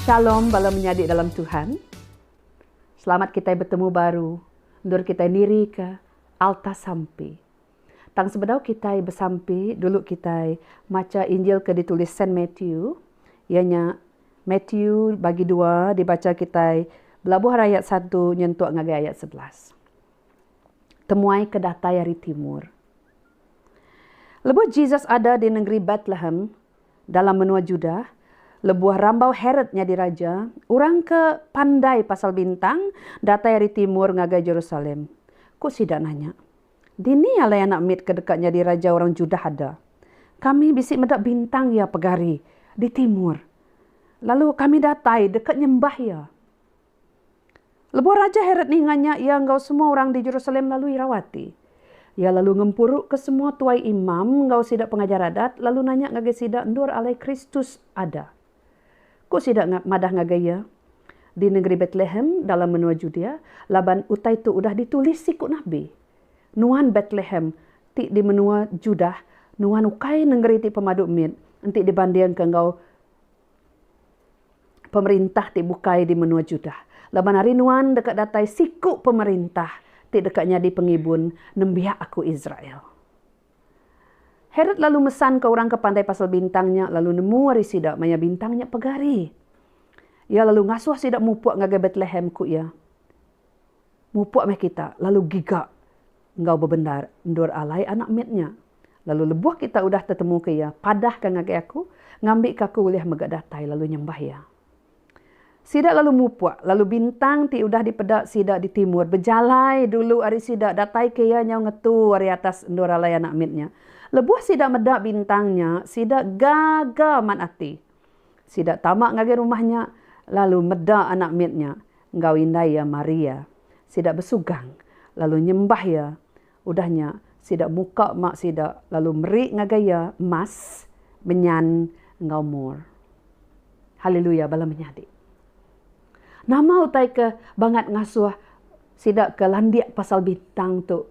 Shalom bala menyadi dalam Tuhan. Selamat kitai betemu baru endur kitai nirika alta sampi. Tang sebedau kitai besampi, dulu kitai macha Injil ke ditulis Saint Matthew, iya nya Matthew bagi dua dibacha kitai belabuh ari ayat satu nyentuk ngagai ayat sebelas. temuai ke datai ari timur. Lebuh Jesus ada di nengeri Betlehem dalam menua Judah, lebuh rambau Herod nyadi raja, orang ke pandai pasal bintang datai ari timur ngagai Jerusalem. Ku sida nanya, Dini alai anak mit ke deka nyadi raja orang Judah ada? Kami bisi meda bintang iya pegari di timur, lalu kami datai deka nyembah iya. Lebuh Raja Herod ninga nya, iya enggau semua orang di Jerusalem lalu irau ati. Iya lalu ngempuruka semua tuai imam enggau sida pengajar adat lalu nanya ngagai sida endur alai Kristus ada. Ku sida madah ngagai iya, Di nengeri Betlehem, dalam menua Judea, laban utai tu udah ditulis siku nabi, Nuan Betlehem ti di menua Judah, nuan ukai nengeri ti pemadu mit enti dibandingka enggau. pemerintah ti bukai di menua Judah. Laban ari nuan deka datai siku pemerintah ti deka nyadi pengibun nembiak aku Israel. Herod lalu mesanka orang ke pandai pasal bintang nya lalu nemu ari sida maya bintang nya pegari. Iya lalu ngasuh sida mupuk ngagai Betlehem, ku iya. Mupuk meh kita lalu giga enggau bebendar endur alai anak mit nya. Lalu lebuh kita udah tetemuka iya, padahka ngagai aku, ngambika aku ulih mega datai lalu nyembah iya. Sida lalu mupuk, lalu bintang ti udah dipeda sida di timur bejalai dulu ari sida dataika iya nyau ngetu ari atas endur alai anak mit nya. Lebuh sida meda bintang nya, sida gaga mat ati. Sida tama ngagai rumah nya lalu meda anak mit nya enggau indai iya mari iya. Sida besugang lalu nyembah iya. Udah nya, sida muka mak sida lalu meri ngagai iya emas, menyan, enggau mur. Haleluya bala menyadi! Nama utai ke bangat ngasuh sida ke landik pasal bintang tu?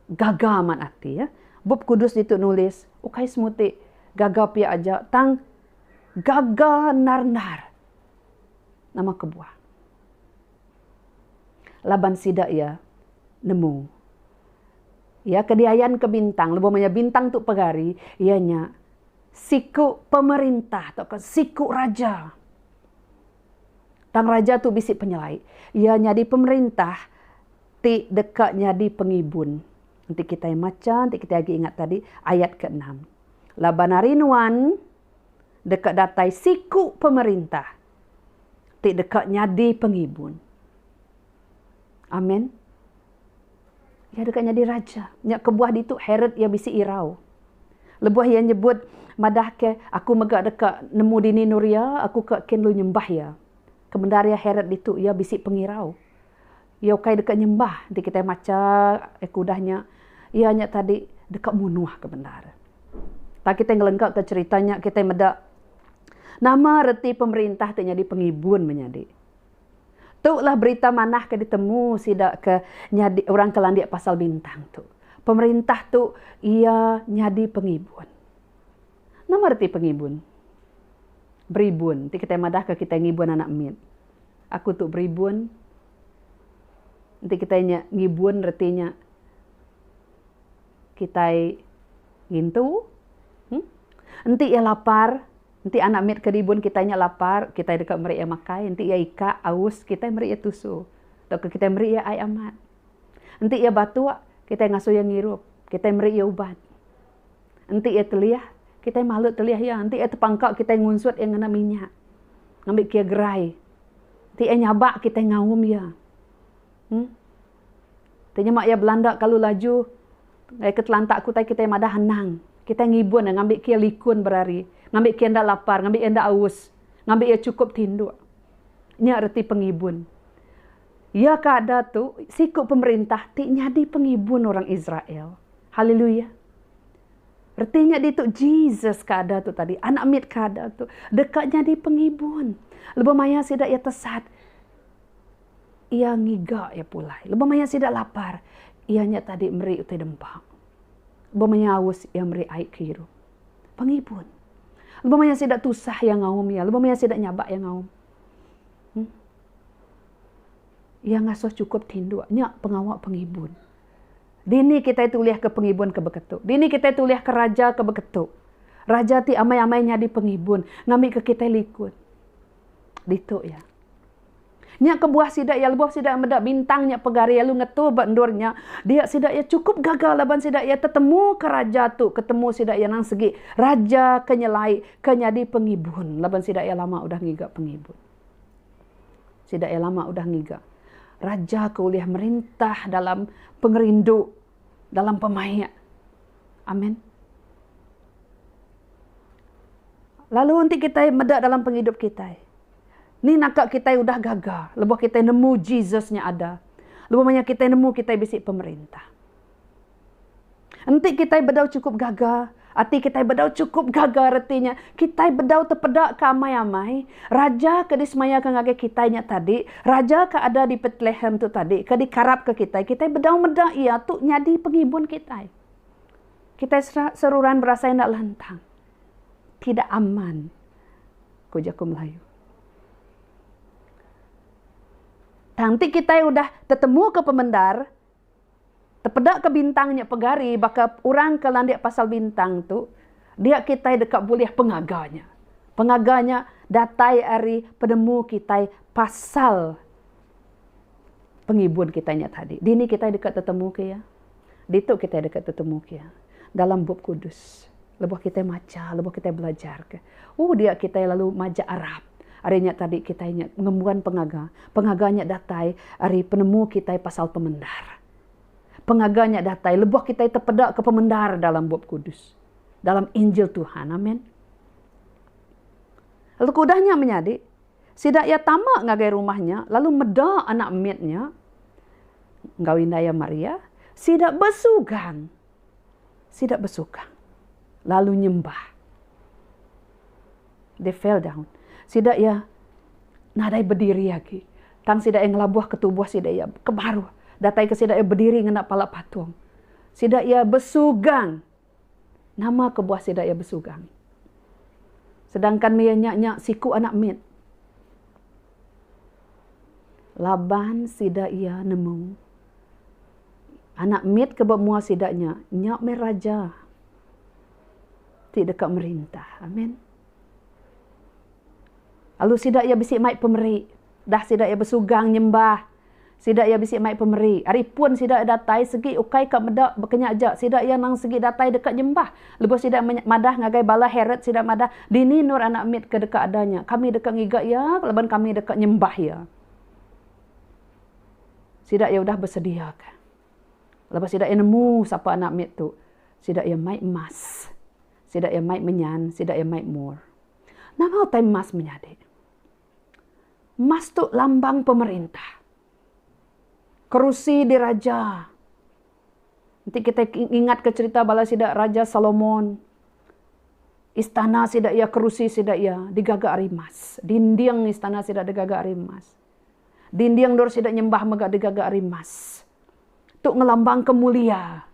Gaga amat ati. Bup Kudus ditu nulis, ukai semua ti gaga pia aja, tang gaga endar-endar. Nama kebuah? Laban sida iya nemu Iya ke diayanka bintang, lebuh maya bintang tu pegari, iya nya siku pemerintah tauka siku raja. Tang raja tu bisi penyelai. Iya nyadi pemerintah ti deka nyadi pengibun. Enti kitai macha, enti kitai agi ingat tadi ayat keenam. Laban ari nuan deka datai siku pemerintah ti deka nyadi pengibun. Amen. Iya deka nyadi raja. Nya kebuah ditu Herod iya bisi irau. Lebuh iya nyebut madahka, Aku mega deka nemu dini nuria, aku ke kin lu nyembah iya. Kemendar iya Herod ditu iya bisi pengirau. Iya ukai deka nyembah enti kitai macha aku udah nya. Iya nya tadi deka munuhka bendar. Tang kitai ngelenggaka cherita nya kitai meda nama reti pemerintah ti nyadi pengibun menyadi. Tu lah berita manah ke ditemu sida ke nyadi orang ke landik pasal bintang tu. Pemerintah tu iya nyadi pengibun. Nama reti pengibun? Beribun ti kitai madahka kitai ngibun anak mit. Aku tu beribun. Enti kitai nya ngibun reti nya kitai ngintu. Em Enti iya lapar, enti anak mit ke ribun kitai nya lapar, kitai deka meri iya makai. Enti iya ikak, aus, kitai meri iya tusu tauka kitai meri iya ai amat. Enti iya batuk, kitai ngasuh iya ngirup. Kitai meri iya ubat. Enti iya telih, kitai malut telih iya. Enti iya tepangka, kitai ngunsut iya ngena minyak. Ngambika iya gerai. Enti iya nyabak, kitai ngaum iya. Em. Ti nyema iya belanda kalu laju, ai ke telantak aku tadi kitai madah anang. Kitai ngibun iya ngambika iya likun berari. Ngambika iya enda lapar, ngambika iya enda aus. Ngambika iya chukup tinduk. Nya reti pengibun. Iya ke ada tu siku pemerintah ti nyadi pengibun orang Israel. Haleluya! Reti nya ditu Jesus ke ada tu tadi, Anak mit ke ada tu, deka nyadi pengibun. Lebuh maya sida iya tesat, iya ngiga iya pulai. Lebuh maya sida lapar, iya nya tadi meri utai dempa. Lebuh maya aus, iya meri ai ke irup. Pengibun. Lebuh maya sida tusah, iya ngaum iya. Lebuh maya sida nyabak, iya ngaum. Em. Iya ngasuh chukup tinduk nya pengawa pengibun. Dini kitai ti ulihka pengibun ke beketu? Dini kitai ti ulihka raja ke beketu? Raja ti amai-amai nyadi pengibun ngambika kitai likun. Ditu iya. Nya kebuah sida iya lebuh sida meda bintang nya pegari lalu ngetu ba endur nya, dia sida iya chukup gaga laban sida iya tetemuka raja tu ke temu sida iya nang segi, raja ke nyelai ke nyadi pengibun laban sida iya lama udah ngiga pengibun. Sida iya lama udah ngiga. Raja ke ulih merintah dalam pengerindu, dalam pemaik. Amen. Lalu enti kitai meda dalam pengidup kitai, ni naka kitai udah gaga lebuh kitai nemu Jesus nya ada. Lebuh maya kitai nemu kitai bisi pemerintah. Enti kitai bedau chukup gaga, ati kitai bedau chukup gaga reti nya kitai bedau tepeda ke amai-amai Raja ke disemayaka ngagai kitai nya tadi, Raja ke ada di Betlehem tu tadi ke dikarapka kitai, kitai bedau meda iya tu nyadi pengibun kitai. Kitai seruran berasai enda lantang, tidak aman, ku jaku Melayu. Tang enti kitai udah tetemuka pemendar, Tepedaka bintang nya pegari baka orang ke landik pasal bintang tu dia kitai deka bulih pengaga nya. Pengaga nya datai ari penemu kitai pasal pengibun kitai nya tadi. Dini kitai deka tetemuka iya? Ditu kitai deka tetemuka iya. dalam Bup Kudus. Lebuh kitai macha, lebuh kitai belajarka, oh dia kitai lalu majak arap. Ari nya tadi kitai nya ngembuan pengaga. Pengaga nya datai ari penemu kitai pasal pemendar. Pengaga nya datai lebuh kitai tepedaka pemendar dalam Bup Kudus, dalam Injil Tuhan. Amen. Lalu keudah nya menyadi, Sida iya tama ngagai rumah nya lalu meda anak mit nya enggau indai iya Maria, sida besugang. Sida besugang lalu nyembah. They fell down. Sida iya nadai bediri agi. Tang sida iya ngelabuhka tubuh sida iya ke baruh. Dataika sida iya bediri ngena pala patung. Sida iya besugang. Nama kebuah sida iya besugang. Sedangkan maya nya nya siku anak mit laban sida iya nemu anak mit ke ba mua sida nya, nya meh raja ti deka merintah. Amen. Lalu sida iya bisi mai pemeri dah sida iya besugang nyembah Sida iya bisi mai pemeri. Ari pun sida iya datai segi ukai ka meda bekenya aja sida iya nang segi datai deka nyembah. Lebuh sida iya madah ngagai bala Herod sida madah, Dini endur anak mit ke deka ada nya? Kami deka ngiga iya laban kami deka nyembah iya. Sida iya udah besediaka. Lebuh sida iya nemu sapa anak mit tu, sida iya mai emas, sida iya mai menyan, sida iya mai mur. Nama utai emas menyadi? Emas tu lambang pemerintah. Kerusi diraja. Enti kitai ngingatka cherita bala sida Raja Solomon, istana sida iya, kerusi sida iya digaga ari emas. Dinding istana sida digaga ari emas. Dinding endur sida nyembah mega digaga ari emas. Tu ngelambangka mulia.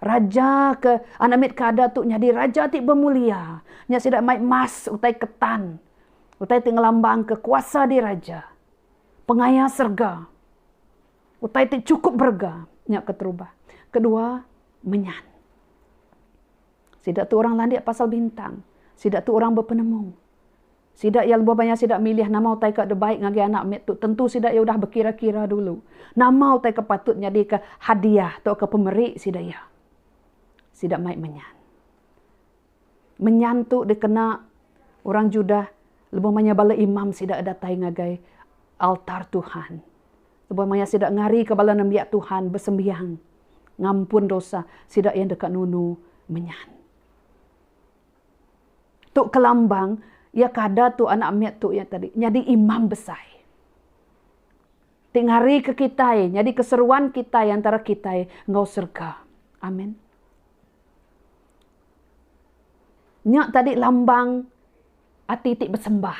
Raja ke anak mit ke ada tu nyadi raja ti bemulia. Nya sida mai emas utai ketan, utai ti ngelambangka kuasa diraja, pengaya serega, utai ti chukup berega. Nya keterubah. Kedua, menyan. Sida tu orang landik pasal bintang. Sida tu orang bepenemu. Sida iya lebuh maya sida milih nama utai ke dibai ngagai anak mit tu tentu sida iya udah bekira-kira dulu nama utai ke patut nyadika hadiah tauka pemeri sida iya. Sida mai menyan. Menyan tu dikena orang Judah lebuh maya bala imam sida datai ngagai altar Tuhan. Lebuh maya sida ngarika bala nembiak Tuhan besembiang ngampun dosa, sida iya deka nunu menyan. Tu kelambang iya kada tu anak mit tu iya tadi nyadi imam besai. Ti ngarika kitai nyadi keseruan kitai antara kitai enggau serega. Amin. Nya tadi lambang ati ti besembah.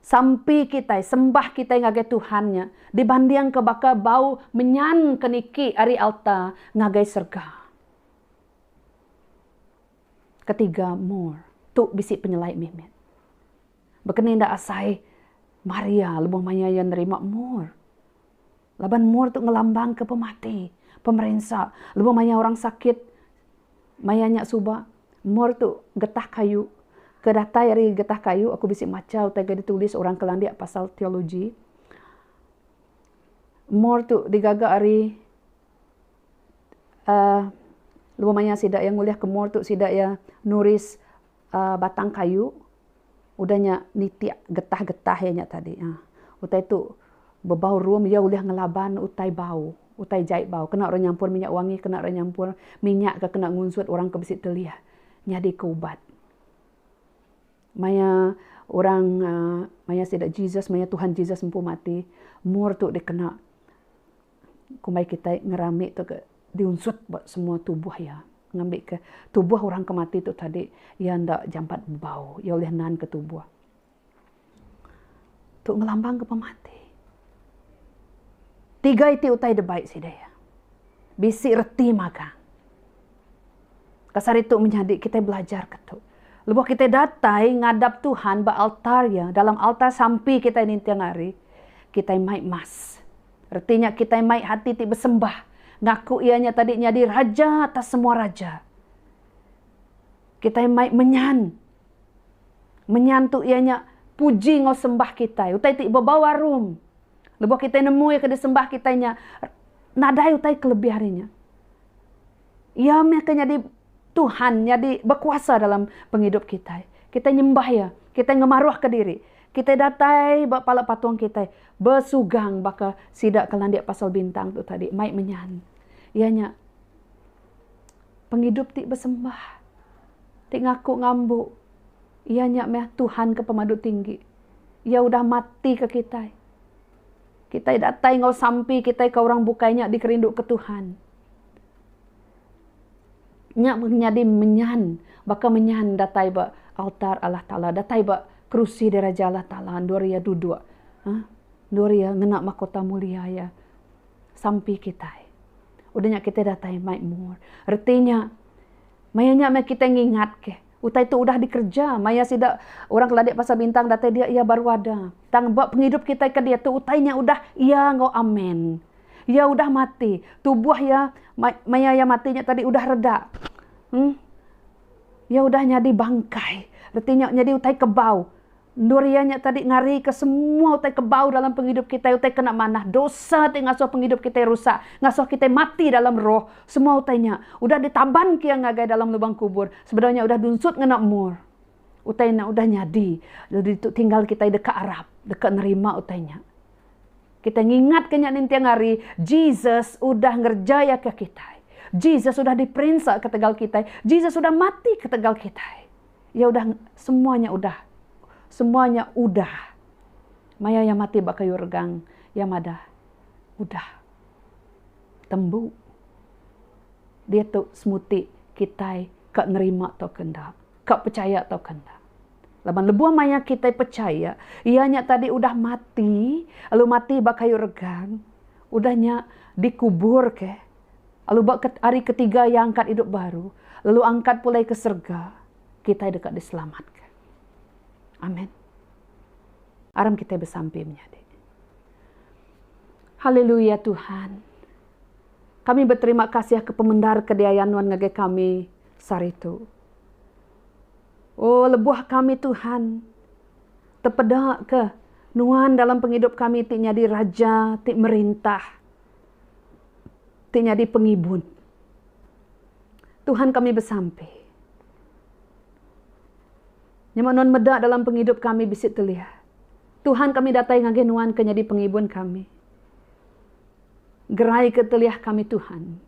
Sampi kitai, sembah kitai ngagai Tuhan nya dibandingka baka bau menyan ke niki ari alta ngagai serega. Ketiga, more. Tu bisi penyelai mih mit. Baka ni enda asai Maria lebuh maya iya nerima more. Laban mur tu ngelambangka pemati, pemerinsa lebuh maya orang sakit maya nya suba mur tu getah kayu ke datai ari getah kayu aku bisi macha utai ke ditulis orang ke landik pasal teologi mur tu digaga ari uhh lebuh maya sida iya ngulihka mur tu sida iya nulis batang kayu udah nya nitik getah-getah iya nya tadi uhh utai tu bebau rum iya ulih ngelaban utai bau utai jai bau kena orang nyampur minyak wangi kena orang nyampur minyak ke kena ngunsut orang ke bisi telih nyadi ke ubat. Maya orang uhh maya sida Jesus maya Tuhan Jesus empu mati mur tu dikena. Kumbai kitai ngerami tu ke diunsut ba semua tubuh iya ngambika tubuh orang ke mati tu tadi iya enda jampat bebau iya ulih nanka tubuh. Tu ngelambangka pemati. Tiga iti utai da bai sida iya. Bisi reti magang. Pas hari tu menyadi kitai belajarka tu. Lebuh kitai datai ngadap Tuhan ba altar iya, dalam altar sampi kitai ninting hari, kitai mai mas. Reti nya kitai mai hati ti besembah, ngaku Iya nya tadi nyadi Raja atas semua raja. Kitai mai menyan. Menyan tu iya nya puji enggau sembah kitai, utai ti bebau arum. Lebuh kitai nemu iya ke disembah kitai nya, nadai utai ke lebih ari nya. Iya meh ke nyadi Tuhan, nyadi bekuasa dalam pengidup kitai. Kitai nyembah Iya, kitai ngemaruhka diri, kitai datai ba pala patung kitai, besugang baka sida ke landik pasal bintang tu tadi mai menyan, iya nya pengidup ti besembah, ti ngaku ngambu Iya nya meh Tuhan ke pemadu tinggi. Iya udah matika kitai. Kitai datai enggau sampi kitai ke orang bukai nya dikerinduka Tuhan. Nya meh nyadi menyan baka menyan datai ba altar Allah Taala, datai ba kerusi diraja Allah Taala endur iya duduk uhh endur iya ngena makota mulia iya sampi kitai. Udah nya kitai datai maemur. Reti nya maya nya meh kitai ngingatke. Utai tu udah dikereja maya sida orang Keladi Pasar Bintang datai dia iya baru ada. Tang ba pengidup kitai ke diatu utai nya udah iya enggau amin. Iya udah mati. Tubuh iya maya iya mati nya tadi udah reda. Em. Iya udah nyadi bangkai. Reti nya nyadi utai kebau. Endur iya nya tadi ngarika semua utai ke bau dalam pengidup kitai, utai ke enda manah, dosa ti ngasuh pengidup kitai rusak, ngasuh kitai mati dalam roh. Semua utai nya udah ditabanka iya ngagai dalam lubang kubur, sebedau nya udah dunsut ngena umur. Utai nya udah nyadi, lalu ditu tinggal kitai deka arap, deka nerima utai nya. Kitai ngingatka nya ninting hari, Jesus udah ngerejaika kitai. Jesus udah diperinsa ketegal kitai. Jesus udah mati ketegal kitai. Iya udah semua nya udah semua nya udah. Maya iya mati ba kayu regang iya madah udah tembu. Diatu semuti kitai ka nerima tauka enda, ka pechaya tauka enda. Laban lebuh maya kitai pechaya iya nya tadi udah mati lalu mati ba kayu regang udah nya dikuburka. lalu ba ke hari ketiga iya angkat idup baru lalu angkat pulai ke serega, kitai deka diselamatka. Amen. Aram kitai besampi menyadi. Haleluya Tuhan. Kami beterima kasih akan pemendar ke diayan Nuan ngagai kami sehari tu. Oh lebuh kami Tuhan tepedaka Nuan dalam pengidup kami ti nyadi Raja ti merintah. ti nyadi pengibun. Tuhan kami besampi. Nyema nuan meda dalam pengidup kami bisi telia. Tuhan kami datai ngagai nuan ke nyadi pengibun kami. Gerai ke telia kami Tuhan.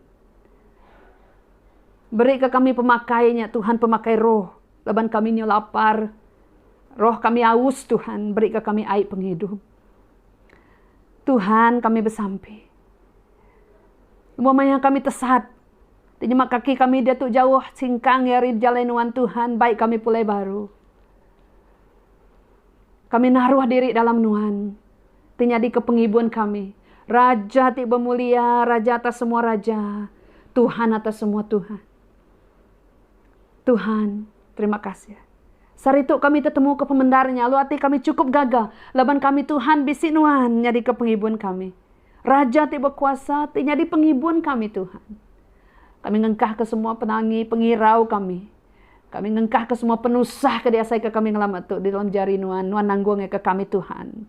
Beri ke kami pemakai nya Tuhan pemakai roh laban kami nyu lapar. Roh kami aus Tuhan beri ke kami ai pengidup. Tuhan kami besampi. Lebuh maya kami tesat ti nyema kaki kami diatu jauh singkang iya ari jalai nuan Tuhan bai kami pulai baru. Kami naruh diri dalam nuan ti nyadika pengibun kami, Raja ti bemulia, Raja atas semua raja, Tuhan atas semua Tuhan. Tuhan, terima kasih. Sehari tu kami tetemuka pemendar nya lalu ati kami chukup gaga laban kami Tuhan bisi nuan nyadika pengibun kami. Raja ti bekuasa ti nyadi pengibun kami Tuhan. Kami ngengkahka semua penangi pengirau kami. Kami ngengkahka semua penusah ke diasaika kami ngelama tu di dalam jari nuan, nuan nanggungka kami Tuhan.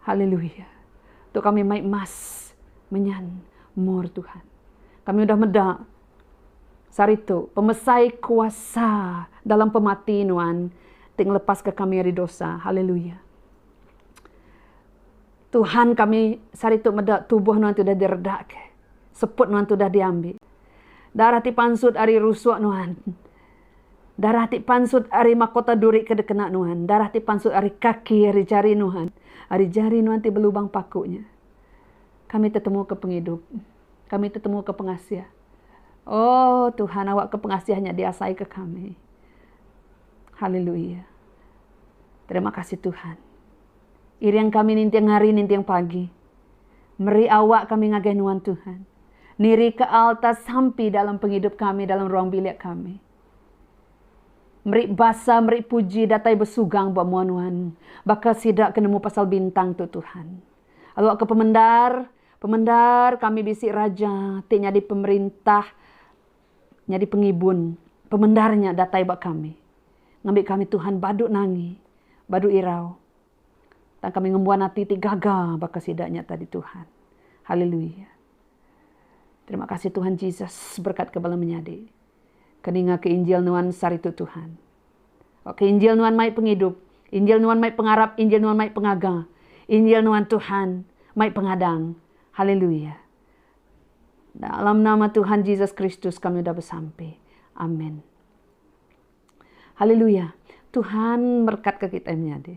Haleluya. Tu kami mai emas menyan mur Tuhan. Kami udah meda. Sehari tu, pemesai kuasa dalam pemati nuan ti ngelepaska kami ari dosa. Haleluya! Tuhan kami sehari tu meda tubuh nuan ti udah diredakka. Seput nuan ti udah diambi. Darah ti pansut ari rusuk nuan. Darah ti pansut ari makota duri ke dikena nuan. Darah ti pansut ari kaki, ari jari nuan. Ari jari nuan ti belubang paku nya. Kami tetemuka pengidup. kami tetemuka pengasih. Oh, Tuhan awakka pengasih nya diasaika kami. Haleluya. Terima kasih Tuhan. Iring kami ninting hari, ninting pagi. Meri awak kami ngagai nuan Tuhan. Niri ke alta sampi dalam pengidup kami, dalam ruang bilik kami. Meri basa, meri puji, datai bersugang buat mua nuan. Baka sida kenemu pasal bintang tu Tuhan. Awak ke pemendar, Pemendar kami bisi raja ti nyadi pemerintah nyadi pengibun pemendar nya datai ba kami ngambi kami Tuhan badu nangi badu irau tang kami ngembuan ati ti gaga baka sida nya tadi Tuhan haleluya terima kasih Tuhan Jesus berkatka bala menyadi ke ninga ke injil nuan saritu Tuhan. Ok injil nuan mai pengidup, injil nuan mai pengarap, injil nuan mai pengaga, injil nuan Tuhan mai pengadang. Haleluya. Dalam nama Tuhan Jesus Kristus kami udah besampi. Amen. Haleluya. Tuhan merkatka kitai menyadi.